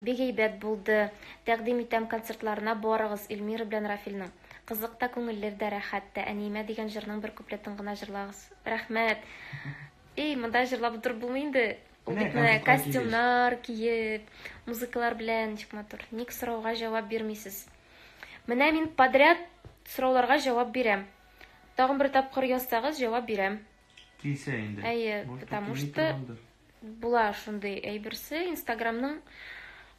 Бик әйбәт булды. Тәкъдим итәм концертларына барыгыз, Эльмира белән Рафилнең. Кызык та, күңеллер дә, рәхәт тә. Әниемә дигән җырның бер куплетын гына җырлагыз. Рәхмәт. Эй, монда җырлап утырып булмый инде. Ул бит менә костюмнар киеп, музыкалар белән ничек матур. Ник сорауга җавап бирмисез? Менә мин подряд сорауларга җавап бирәм. Тагын бер тапкыр язсагыз, җавап бирәм. Килсә инде. Әйе, потому что була шундый әйберсе, Инстаграмның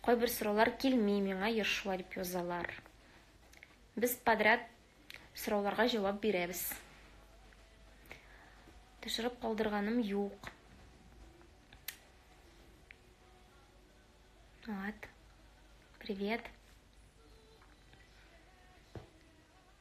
кайбер сораулар килми миңа еш шулай дип язалар. Без подряд сорауларга җавап бирәбез. Төшереп калдырганым юк. Вот. Привет.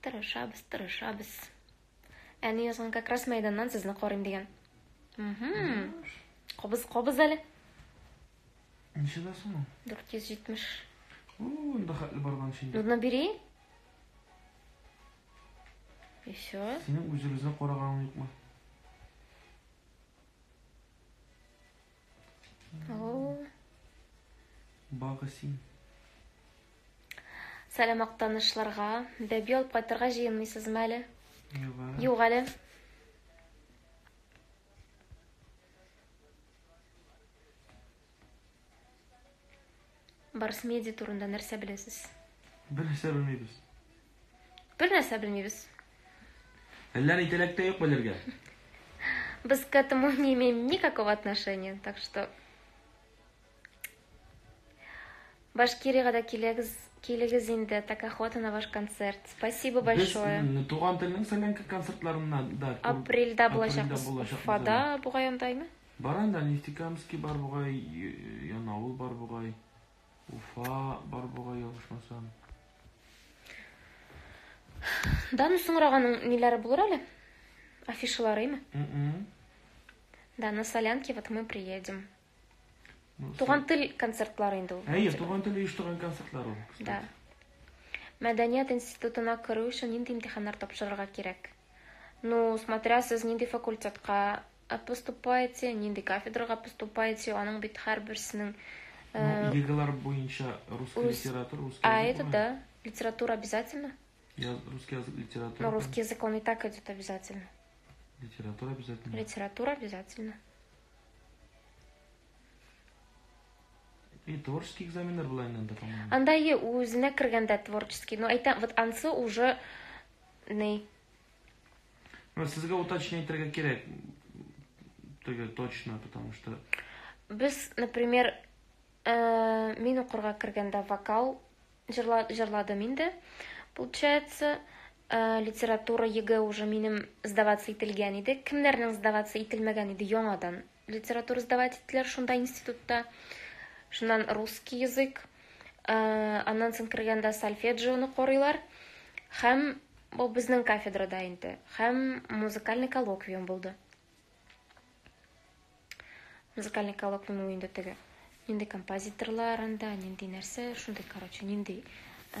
Тырышабыз, тырышабыз. Әни язган как раз мәйданнан сезне карыйм дигән. Угу. Кобыз, кобыз әле. Ничә да соң? 470. Уу, инде хәтле барган шин. Нужно бери. Еще. Синең үзегезне караганың юкмы? Багы син. Сәлам актанышларга. Бәби алып кайтырга җыенмыйсызмы әле? Юк әле. Барс медиа турында нәрсә беләсез? Бер нәрсә белмибез. Бер нәрсә белмибез. Әллә ни теләктә юк белергә. Без к этому не имеем никакого отношения, так что... Башкирига да килегез, килегез инде, так охота на ваш концерт. Спасибо большое. Без туган телнең сәләнке концертларына да... Апрельда булачакбыз. Апрельда булачакбыз. Фада бугай андаймы? Бар анда Нефтекамский бар бугай, Янаул бар бугай, Уфа бар бугай ялгышмасам. Дану соңраганың ниләре булыр әле? Афишаларыймы? Да, на солянке вот мы приедем. Ну, туган тел концертлары инде ул. Әйе, туган тел оештырган концертлар ул. Да. Мәдәният институтына керү өчен нинди имтиханнар тапшырырга кирәк? Ну, смотря сез нинди факультетка Ә поступаете, нинди кафедрага поступаете, аның бит һәрберсенең Ну, э, елгалар буенча русский рус- литература, русский А язык это була. да, литература обязательно? Я- русский язык литература. Но русский язык он и так идет обязательно. Литература обязательно. Литература обязательно. И творческий экзаменнар була инде анда, по-моему. Анда е- үзенә кергәндә творческий, но әйтәм, вот ансы уже ни Ну, сезгә уточнение итәргә кирәк. Теге точно, потому что... Без, например, э, мин укырга кергәндә вокал җырла, җырладым инде. Получается, э, литература ЕГЭ уже минем сдаваться ителгән иде. Кемнәрнең сдаваться ителмәгән иде яңадан? литература сдавать иттеләр шунда институтта. Шуннан русский язык, э, аннан соң кергәндә сольфеджионы карыйлар. Һәм бу безнең кафедрада инде. Һәм музыкальный коллоквиум булды. Музыкальный коллоквиум инде теге. Нинди композиторлар анда, нинди нәрсә, шундый, короче, нинди э,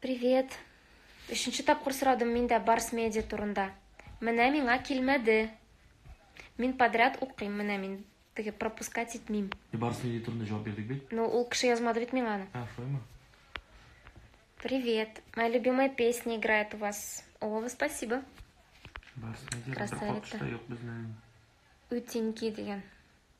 Привет. Өченче тапкыр сорадым мин дә Барс медиа турында. Менә миңа килмәде. Мин подряд укыйм, менә мин теге пропускать итмим. Барс медиа турында җавап бирдек бит. Ну, ул кеше язмады бит миңа аны. А, шулаймы? Привет. Моя любимая песня играет у вас. О, спасибо. Барс медиа Красавица. Юк, Утенький деген.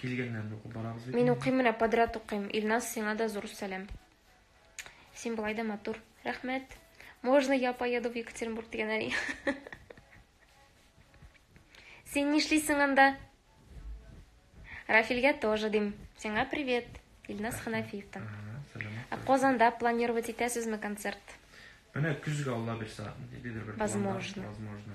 Килгәннәрне укып барабыз бит. Мин укыйм менә подряд укыйм. Илназ, сиңа да зур сәлам. Син болай да матур. Рәхмәт. Можно я поеду в Екатеринбург дигән әни. Син нишлисең анда? Рафилгә тоже дим. Сиңа привет. Илназ Ханафиевтан. Ә Казанда планировать итәсезме концерт? Менә көзгә Алла бирса, дидер бер. Возможно. Возможно.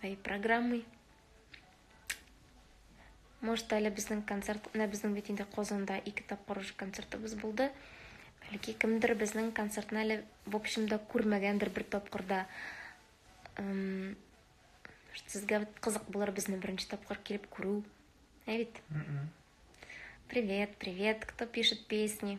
своей программой. Может, әле безнең концерт, менә безнең бит инде Казанда ике тапкыр уже концертыбыз булды. Бәлки кемдер безнең концертны әле в общем да күрмәгәндер бер тапкырда. Эм, сезгә кызык булыр безне беренче тапкыр килеп күрү. Ә бит? Привет, привет, кто пишет песни?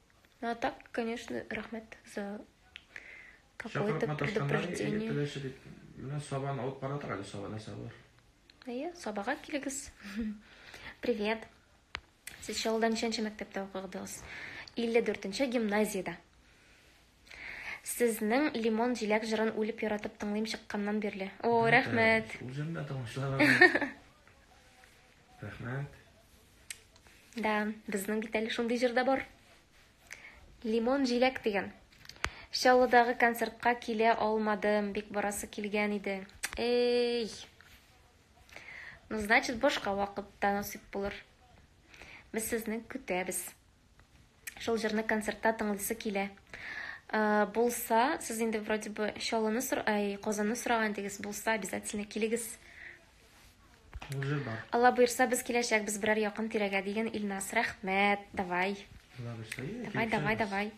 Ну а так, конечно, рахмет за какое-то предупреждение. Менә сабан алып бара тора әле саба нәрсә бар. Әйе, сабага килегез. Привет. Сез Шалда ничәнче мәктәптә укыдыгыз? 54-нче гимназиядә. Сезнең лимон җиләк җырын үлеп яратып тыңлыйм чыкканнан бирле. О, рәхмәт. Үзем дә тыңлышларым. Рәхмәт. Да, безнең бит әле шундый җыр да бар. Лимон җиләк дигән. Чаллыдагы концертка килә алмадым, бик барасы килгән иде. Эй! Ну, значит, башка вакытта насыйп булыр. Без сезне көтәбез. Шул җырны концертта тыңлыйсы килә. Ә, булса, сез инде вроде бы Чаллыны, ай, Казанны сораган идегез, булса обязательно килегез. Уже бар. Алла боерса, без киләчәкбез берәр якын тирәгә дигән Илнас. Рәхмәт. Давай. Давай, давай, давай.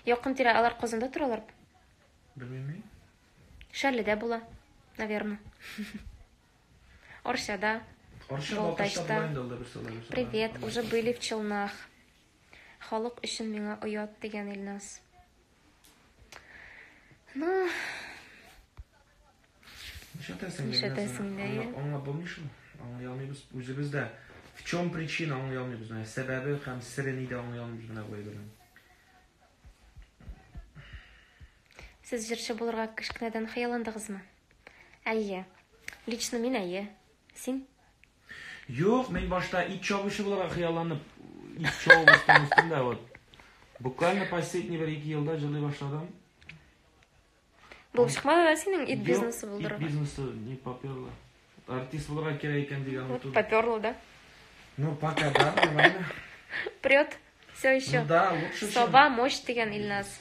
Якын тирә алар Казанда торалар. Белмим. Шәрледә була, наверное. Оршада. Балтачта. Привет, уже были в Челнах. Халык өчен миңа оят дигән Илнас. Ну, Нишләтәсең? Нишләтәсең? Аңа булмый шул. Аңа ялмыйбыз. Үзебез дә в чем причина аңа ялмыйбыз? Менә сәбәбе һәм сире нидә аңа ялмыйбыз менә бу әйбернең. Сез җырчы булырга кечкенәдән хыялландыгызмы? Әйе. Лично мин әйе. Син? Юк, мин башта ит чабучы буларак хыялланып, ит чабып үстем үстем дә вот. Буквально последний бер ике елда җылый башладым. Булып чыкмады да синең ит бизнесы булдырырга? Ит бизнесы не поперло. Артист булырга кирәк икән дигән вот Поперло, да? Ну, пока да, нормально. Прет. Все еще. Ну да, лучше. Сова мощь дигән Ильназ.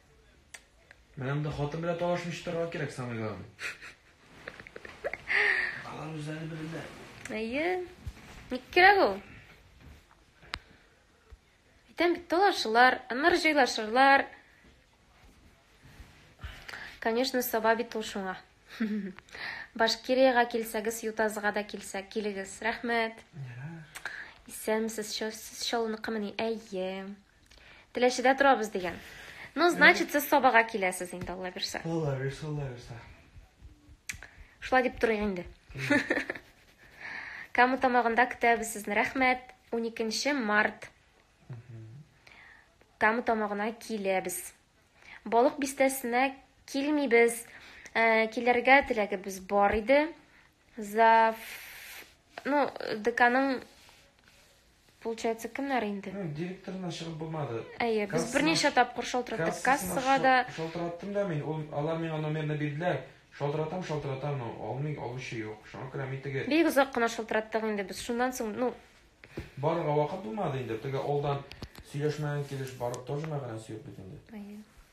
Менә монда хатын белән талашмыйча торырга кирәк самый главный. Алар үзләре белерләр. Әйе. Ник кирәк ул? Әйтәм бит, талашылар, аннары җайлашырлар. Конечно, саба бит ул шуңа. Башкириягә килсәгез, Ютазга да килсә, килегез. Рәхмәт. Исәнмесез, шәүсез шалыныкымыни? Әйе. Теләчедә торабыз дигән. Ну, значит, сез Сабага киләсез инде, Алла бирсә. Алла бирсә, Алла бирсә. Шулай дип торыйк инде. Каму тамагында көтәбез сезне. Рәхмәт. 12 март. Каму тамагына киләбез. Балык бистәсенә килмибез. Э, килергә теләгебез бар иде. Зав... Ну, деканың... Получается, кемнәр инде? Ну, директорына чыгып булмады. Әйе, без берничә тапкыр шалтыраттык. Кассага да... Шалтыраттым да мин, ул, алар миңа номерны бирделәр. Шалтыратам, шалтыратам, но алмый, алучы юк. Шуңа күрә мин теге... Бик озак кына шалтыраттык инде без. Шуннан соң, ну... Барырга вакыт булмады инде. Теге алдан сөйләшмәгән килеш барып тоже мәгънәсе юк бит инде. Әйе.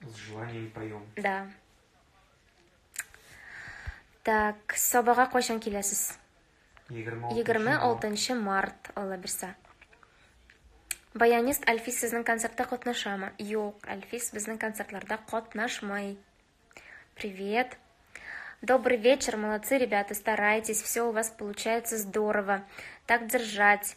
С желанием поем. Да. Так, Сабага кайчан киләсез? 26 март алла бирсә. Баянист Альфис сезнең концертта катнашамы? Юк, Альфис безнең концертларда катнашмый. Привет. Добрый вечер, молодцы, ребята, старайтесь, все у вас получается здорово. Так держать.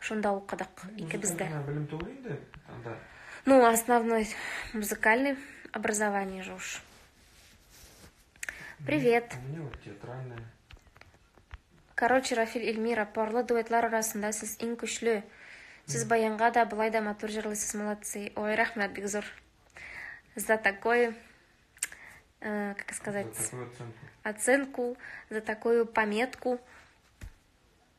Шунда укыдык икебез дә. Белем түгел инде анда. Ну, основной музыкальный образование же уж. Привет. У меня вот театральное. Короче, Рафиль Эльмира, парлы дуэтлар арасында сез иң көчле. Сез баянга да, былай да матур җырлыйсыз, молодцы. Ой, рәхмәт бик зур. За такой, э, как сказать, за оценку. оценку, за такую пометку.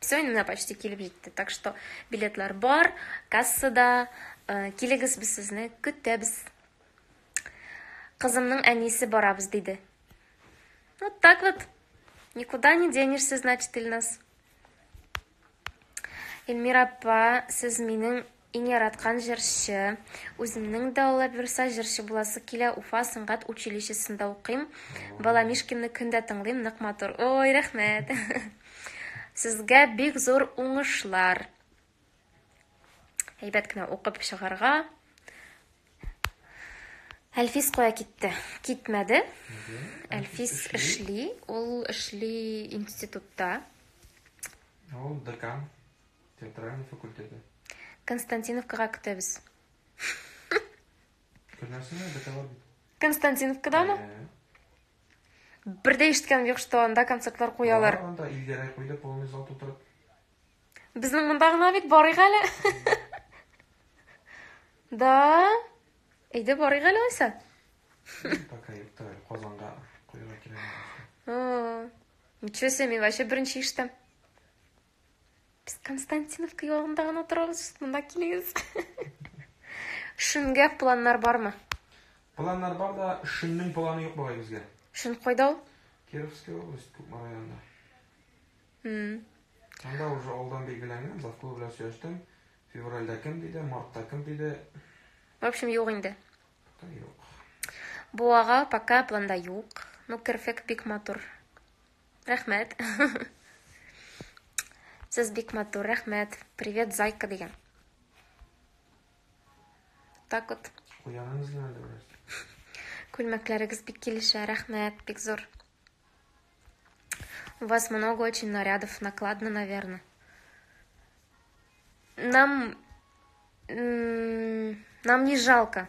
Все, менә почти килеп җитте. Так что билетлар бар, кассада. Э, килегез, без сезне көтәбез. Кызымның әнисе барабыз диде. Вот так вот. Никуда не денешься, значит, Ильнас. Эльмира апа, сез минең Иң яраткан җырчы. Үземнең дә Алла боерса җырчы буласы килә, Уфа сәнгать училищесында укыйм. Бала Мишкинны көн дә тыңлыйм, нык матур. Ой, рәхмәт. Сезгә бик зур уңышлар. Әйбәт кенә укып чыгарга. Әлфис кая китте? Китмәде. Әлфис эшли, ул эшли институтта. Ул декан. Театральный факультеты. Константиновкага көтәбез. Көннәрсенә бетәлә бит. Константиновкадамы? Э, Бер дә ишеткән юк, что анда концертлар куялар. бар Анда илгәрәк куйды полный зал тутырып. Безнең монда гына бит барыйк әле. Да. Әйдә барыйк әле алайса. Пока юкта әле Казанга куярга кирәк. О, Ничего себе, мин вообще беренче ишетәм. Без Константиновка ягында гына торабыз, монда килегез. Шүнгә планнар бармы? Планнар бар да, шүннең планы юк бабай безгә. Шүн кайда ул? Кировская область, Кукма районында. Хм. Анда уже алдан билгеләнгән, завклуб белән сөйләштем. Февральдә кем диде, мартта кем диде. В общем, юк инде. Юк. Буага пока планда юк. Ну, керфек бик матур. Рәхмәт. Сез бик матур, рәхмәт. Привет, зайка дигән. Так вот. Уяныгыз гына да бераз. Күлмәкләрегез бик килешә, рәхмәт, бик зур. У вас много очень нарядов, накладно, наверное. Нам... Нам не жалко.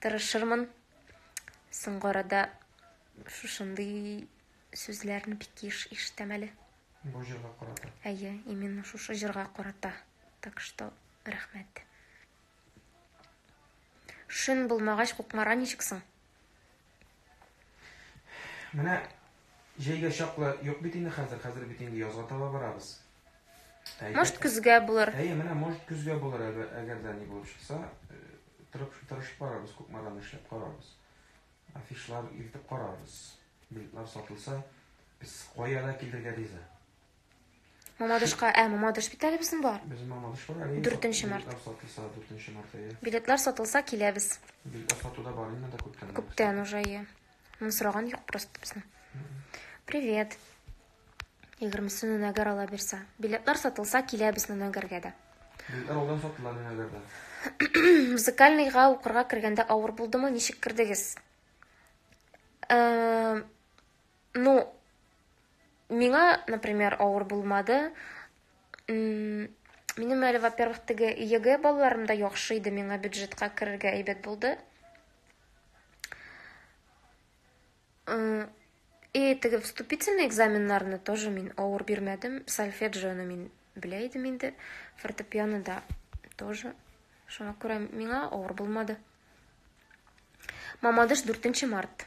Тырышырмын. Соңгы арада шушындый сүзләрне бик еш ишетәм әле. Бу җырга карата. Әйе, именно шушы җырга карата. Так что, рәхмәт. Шөн булмагач, кукмара ничек соң? Менә җәйгә чаклы юк бит инде хәзер, хәзер бит инде язга таба барабыз. Может, көзгә булыр. Әйе, менә может көзгә булыр, әгәр дә ни булып чыкса, э, тырып тырышып барабыз, Кукмадан эшләп карабыз. Афишлар илтеп карабыз. Билетлар сатылса, без кая да килергә риза. Мамадышка, ә, Мамадыш бит әле безнең бар. Безнең Мамадыш бар әле. 4 март. Сатылса 4 март әйе. Билетлар сатылса киләбез. Билетлар сатуда бар инде да күптән. Күптән уже әйе. Мин сораган юк просто безне. Привет. 20-се Нунагар ала бирсә. Билетлар сатылса киләбез Нунагәргә дә. Билетлар алдан сатылар Нунагәрдә. Музыкальныйга укырга кергәндә авыр булдымы? Ничек кердегез? Э, ну, Миңа, например, авыр булмады. Минем әле, во-первых, теге ЕГЭ балларым да яхшы иде, миңа бюджетка керергә әйбәт булды. И теге вступительный экзаменнарны тоже мин авыр бирмәдем. Сольфеджионы мин белә идем инде, фортепиано да тоже. Шуңа күрә миңа авыр булмады. Мамадыш 4 март.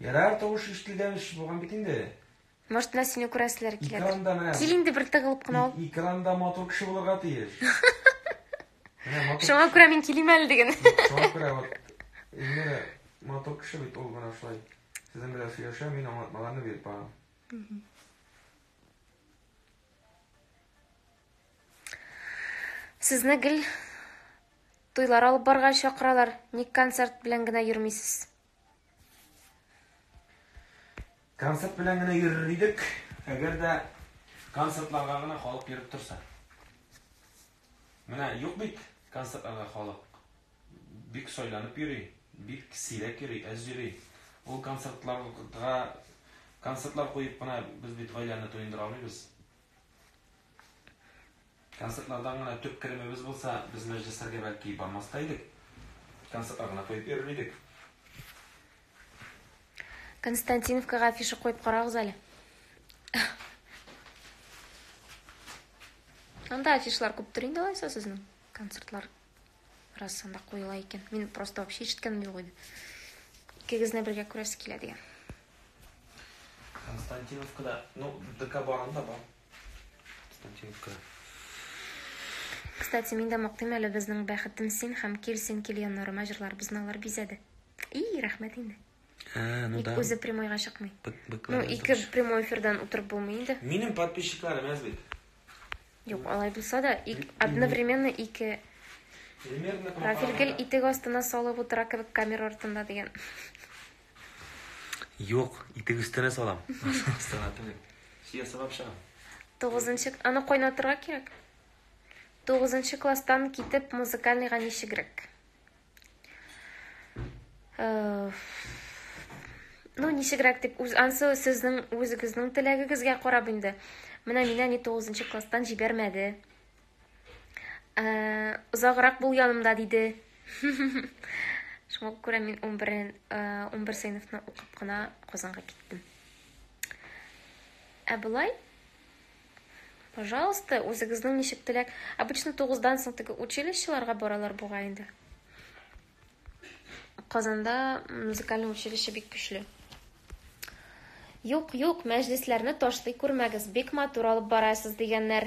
Ярар, тавыш ишетелгән эш булган бит инде. Может, менә сине күрәселәр килә. Экранда менә. Кил инде бер тыгылып кына ул. Экранда матур кеше булырга тиеш. Шуңа күрә мин килим әле диген. Шуңа күрә вот Эльмира матур кеше бит ул менә шулай. Сезнең белән сөйләшә, мин аңлатмаларны биреп барам. Сезне гел туйлар алып барга чакыралар. Ник концерт белән генә йөрмисез? Концерт белән генә йөрер идек, әгәр дә концертларга гына халык йөреп торса. Менә юк бит концертларга халык. Бик сойланып йөри, бик сирәк йөри, әз йөри. Ул концертларга концертлар куеп кына без бит гаиләне туендыра алмыйбыз. Концертлардан гына төп керемебез булса, без мәҗлесләргә бәлки бармас та идек. Концертлар гына куеп йөрер идек. Константиновкага афиша куеп карагыз әле. Анда афишлар күптер инде алайса сезнең концертлар раз анда куела икән. Мин просто вообще ишеткәнем юк иде. Икегезне бергә күрәсе килә дигән. Константиновкада, ну, ДК барында бар. Статюка. Кстати, мин дә мактыйм әле безнең бәхетем син һәм кил син кил яннарыма җырларыбызны алар бизәде. И, рәхмәт инде. А, ну Ник да. үзе прямойга чыкмый. Бык- Ну, быкларны ике тотыш. прямой эфирдан утырып булмый инде. Минем подписчикларым әз бит. Юк, алай булса да, ик- одновременно ике Примерно профиль гел итек астына салып утыра кебек камера артында дигән. Юк, итек өстенә салам. Астына түгел. Сия сабап чыгам. Тугызынчы, аны кайнатырга кирәк. Тугызынчы класстан китеп музыкальныйга ничегрәк? Э, ну, ничегрәк дип, үз ансы сезнең үзегезнең теләгегезгә карап инде. Менә мине әни 9 класстан җибәрмәде. Озаграк бул янымда, диде. Шуңа күрә мин 11 11 сыйныфны укып кына Казанга киттем. Ә болай Пожалуйста, үзегезнең ничек теләк. Обычно 9-дан соң теге училищеларга баралар буга инде. Казанда музыкальный училище бик көчле. Юк, юк, мәҗлесләрне ташлый күрмәгез, бик матур алып барасыз дигәннәр.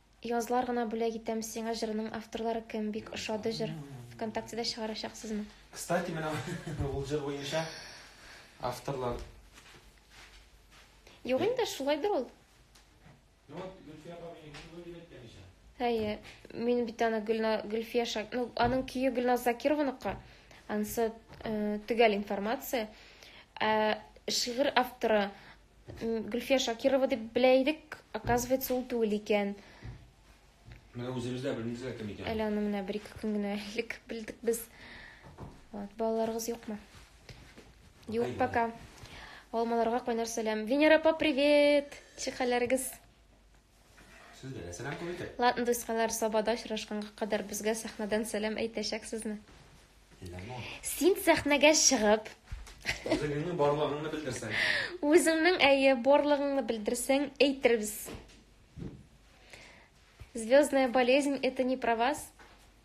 Язлар гына бүләк итәм сиңа җырының авторлары кем? Бик ошады җыр. Вконтактеда чыгарачаксызмы? Кстати, менә ул җыр буенча авторлар. Юк инде, шулайдыр ул. Ну вот Гөлфия апа мені күп өлгер әйткән ичә. Әйе, мин бит аны Гөлна Гөлфия Шак, ну аның көе Гөлназ Закированыкы. Ансы э, төгәл информация. Ә шигырь авторы Гөлфия Шакирова дип белә идек, оказывается, ул түгел икән. Менә үзебез дә белмибез лә кем икәнен. Әле аны менә бер-ике көн генә элек белдек без. Вот, балаларыгыз юкмы? Юк пока. Алмаларга кайнар сәлам. Венера апа, привет! Ничек хәлләрегез? Сүзләргә сәлам кул итеп. Ладно, дуйскалар, сабада очрашканга кадәр безгә сәхнәдән сәлам әйтәчәксезме? Син сәхнәгә чыгып, Үзеңнең барлыгыңны белдерсәң. Үзеңнең әйе барлыгыңны белдерсәң, әйтербез. Звездная болезнь это не про вас.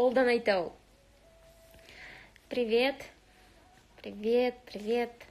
Олдан әйтә ул. Привет. Привет, привет.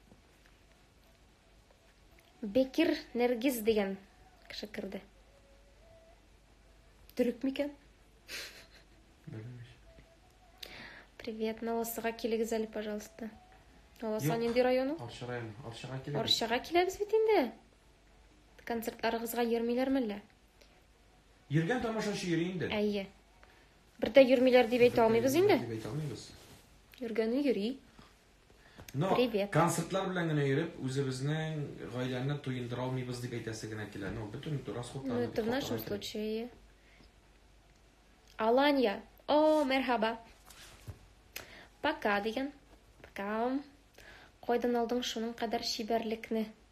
Бекир Нергиз дигән кеше керде. Төрек микән? Привет, Наласыга килегез әле, пожалуйста. Наласа нинди районы? Арча районы. Арчага килегез. Арчага киләбез бит инде. Концертларыгызга йөрмиләрме әллә? Йөргән тамашачы йөри инде. Әйе. Бер дә йөрмиләр дип әйтә алмыйбыз инде. Дип әйтә алмыйбыз. Йөргәне йөри. Но Привет. концертлар белән генә йөреп, үзебезнең гаиләне туендыра алмыйбыз дип әйтәсе генә килә. Ну, бөтен расходлар. Ну, это в нашем случае. Алания. О, мерхаба. Пока, диген. Пока. Кайдан алдың шуның кадәр чибәрлекне?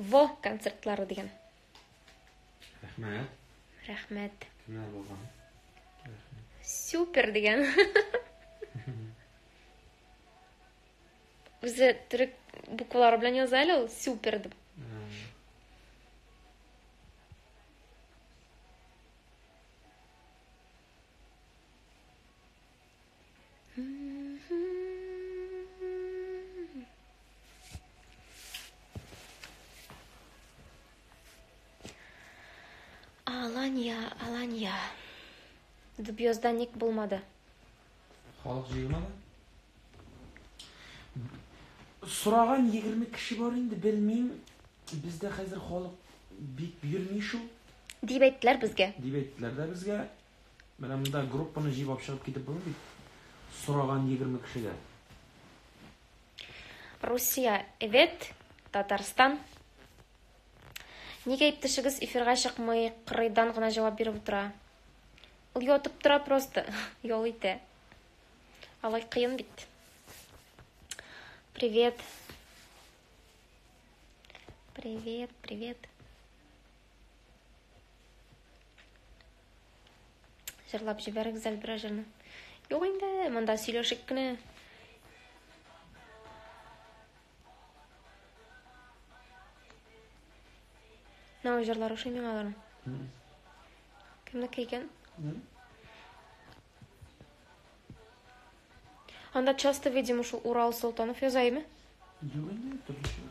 Во, концертлары дигән. Рәхмәт. Рәхмәт. Менә булган. Супер дигән. Үзе төрек буквалары белән яза әле ул супер дип. Аланья, Аланья. Дубьёзда ник булмады? Халык җыелмады? Сораган 20 кеше бар инде, белмим. Бездә хәзер халык бик йөрми шул. Дип әйттеләр безгә. Дип әйттеләр дә безгә. Менә монда группаны җыйып алып чыгып китеп булмый бит. Сораган 20 кешегә. Русия, эвет, Татарстан. Нигә иптәшегез эфирга чыкмый, кырыйдан гына җавап биреп утыра? Ул ятып тора просто, ял итә. Алай кыен бит. Привет. Привет, привет. Җырлап җибәр гүзәл берәр җырны. Юк инде, монда сөйләшеп кенә. Нау җырлар ошый миңа алар. Кемнеке икән? Анда часто видимо шул Урал Солтанов язаймы? Юк инде, төрлечә.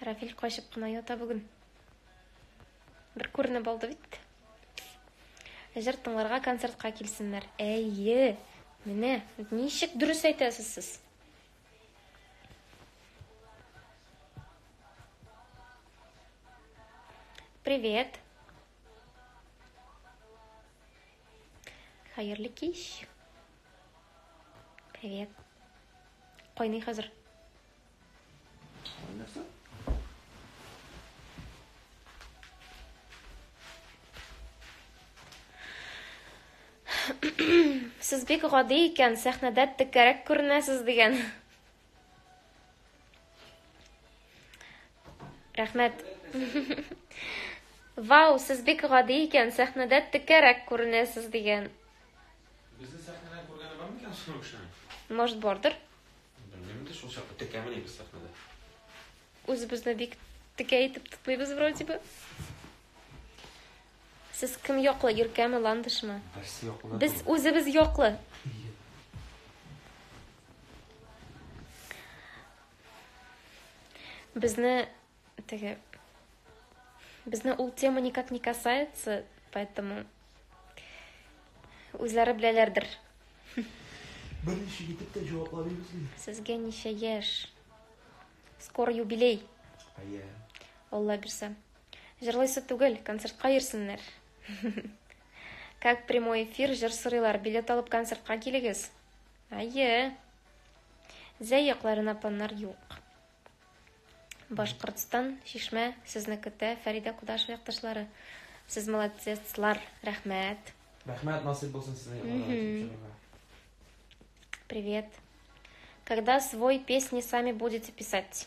Рафиль качып кына ята бүген. Бер күренеп алды бит. Җыр тыңларга концертка килсеннәр. Әйе. Менә ничек дөрес әйтәсез сез. Привет. Хәерле кич. Привет. Кайный хәзер. Кайнаса? Сез бик гади икән, сәхнәдә текәрәк күренәсез дигән. Рәхмәт. Вау, сез бик гади икән, сәхнәдә текәрәк күренәсез дигән. Безне сәхнәдә күргәне бар микән шул кешене? Может, бардыр? Белмим инде шул чакта текәмени без сәхнәдә. Үзебезне бик текә итеп тотмыйбыз вроде бы. Сез кем яклы, Иркәме, Ландышмы? Берсе яклы. Без үзебез яклы. Безне теге Безне ул тема никак не касается, поэтому үзләре беләләрдер. Беренче итеп тә җаваплар бирсен. Сезгә ничә яшь? Скоро юбилей. Әйе. Алла бирсә. Җырлыйсы түгел, концертка йөрсеннәр. Как прямой эфир, җыр сорыйлар, билет алып концертка килегез. Әйе. Зәй якларына планнар юк. Башкортстан, Шишмә, сезне көтә, Фәридә Кудашева якташлары. Сез молодецлар, рәхмәт. Рәхмәт, насыйп булсын сезнең якларга килеп чыгарга. Привет. Когда свой песни сами будете писать?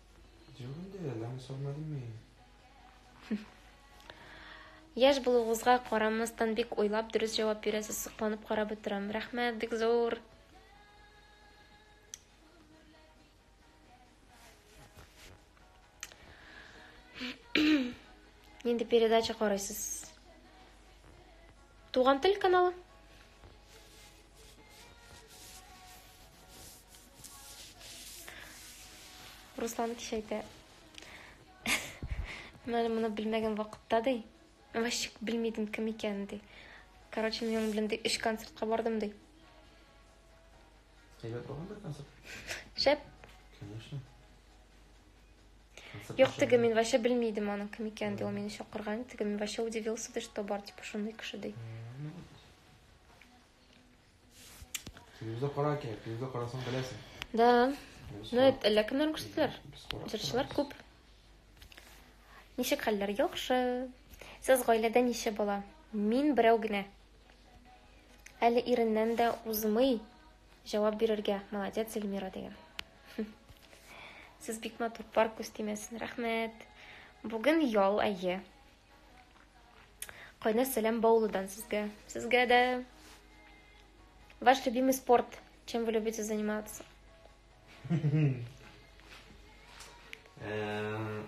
Яшь булуыгызга карамастан бик уйлап дөрес җавап бирәсез, сокланып карап утырам. Рәхмәт, бик зур. Нинди передача карыйсыз? Туган тел каналы. Руслан кичәйтә. Менә моны белмәгән вакытта ди. Вообще белмидем кем икәнен ди. Короче, мин аның белән ди өч концертка бардым ди. Әйбәт булган бит концерт. Шәп. Конечно. Юк, теге мин вообще белми идем аның кем икәнен, ди, ул мине чакырган иде. Теге мин вообще удивился, ди, что бар, типа, шундый кеше ди. Телевизор кара кирәк, телевизор карасаң беләсең. Да. Ну, это әллә кемнәр күрсәтәләр. Җырчылар күп. Ничек хәлләр? Яхшы. Сез гаиләдә ничә бала? Мин берәү генә. Әле иреннән дә узмый җавап бирергә. Молодец, Эльмира дигән. Сез бик матур, пар күз тимәсен. Рәхмәт. Бүген ял, әйе. Кайна сәлам Баулыдан сезгә. Сезгә дә. Ваш любимый спорт. Чем вы любите заниматься? Эм,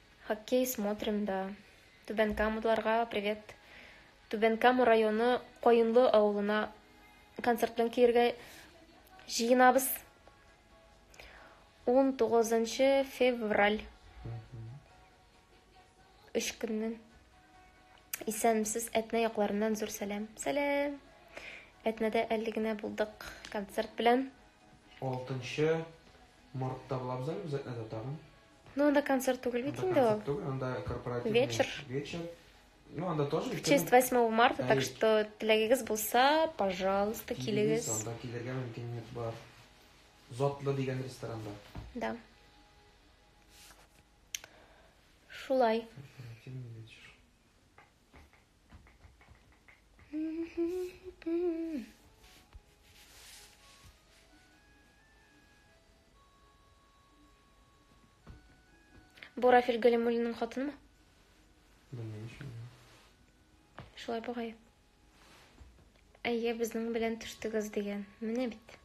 Хоккей смотрим да. Түбән Камадларга привет. Түбән Кама районы Каенлы авылына концерт белән килергә җыенабыз. 19 февраль. Өч көннән. Исәнмесез Әтнә якларыннан зур сәлам. Сәлам. Әтнәдә әле генә булдык концерт белән. 6 мартта булабыз әле без Әтнәдә тагын. Ну, анда концерт түгел бит инде ул. Түгел, анда корпоративный вечер. Вечер. Ну, анда тоже. В честь 8 марта, так что теләгегез булса, пожалуйста, килегез. Анда килергә мөмкинлек бар. Затлы дигән ресторанда. Да. Шулай. Бу Рафиль Галимуллинның хатынымы? Белмим шул. Шулай бугай. Әйе, безнең белән төштегез дигән. Менә бит.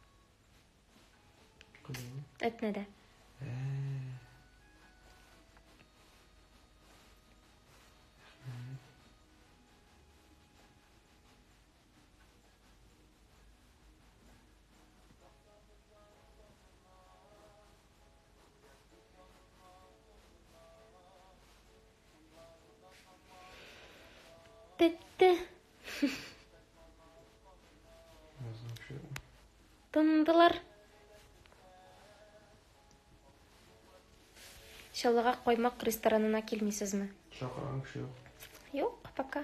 Кызым. Әтнәдә. Бетте. Тындылар. Шалыга коймак ресторанына килмисезме? Чакырган кеше юк. Юк, пока.